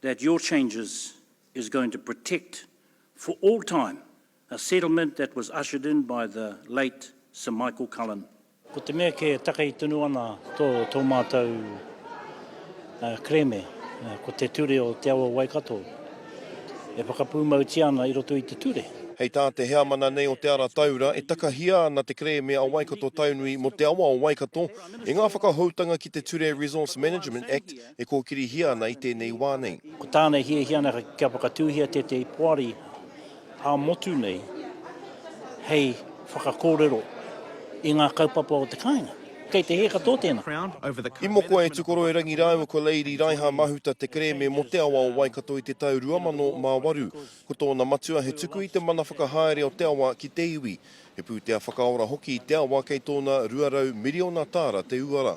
that your changes is going to protect for all time a settlement that was ushered in by the late Sir Michael Cullen. Ko te mea kē e takei tonu ana tō mātou kerēme, ko te ture o Te Awa Waikato e whakapūmautia ana i roto i te ture. Hei tā te heamana nei o Te Ara Taura, e takahia ana te kerēme a Waikato Taunui mō te awa o Waikato i ngā whakahoutanga ki te Ture Resource Management Act e kōkirihia ana i tēnei wā nei. Ko tāna e hiahia ana kia whakatūhia tētahi poari ā-motu nei hei whakakōrero i ngā kaupapa o te kāinga. Kei te hē katoa tēnā. I moko e Tukoroirangi rāua ko Lady Raiha Mahuta te kerēme mō te awa o Waikato i te tau 2008. Ko tōna matua he tuku i te mana whakahaere o te awa ki te iwi. He pūtea whakaora hoki i te awa kei tōna 200 miriona tāra te uara.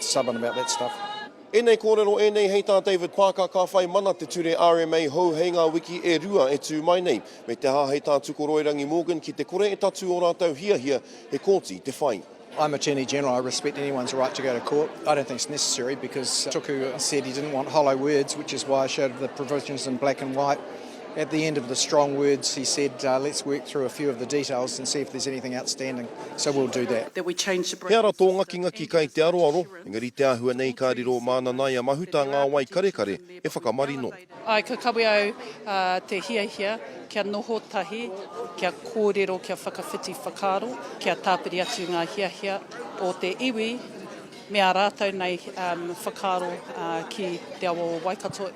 stubborn about that stuff. Ēnei kōrero ēnei hei tā David Parker ka whai mana te ture rma hou hei ngā wiki e rua e tū mai nei, me te aha hei tā Tukoroirangi Morgan ki te kore e tatū ō rātou hiahia he kōti te whai. I'm Attorney General, I respect anyone's right to go to court. I don't think it's necessary because Tuku said he didn't want hollow words, which is why I showed the provisions in black and white. At the end of the strong words he said let's work through a few of the details and see if there's anything outstanding, so we'll do that. He ara tō ngakingaki kai te aroaro, engari te āhua nei ka riro mā Nanaia Mahuta ngā wai karekare e whakamarino. Ae, ka kawe au te hiahia kia noho tahi, kia kōrero, kia whakawhiti whakaaro, kia tāpiri atu ngā hiahia o te iwi me ā rātou nei whakaaro ki te awa o Waikato.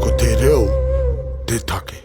Ko te reo te take.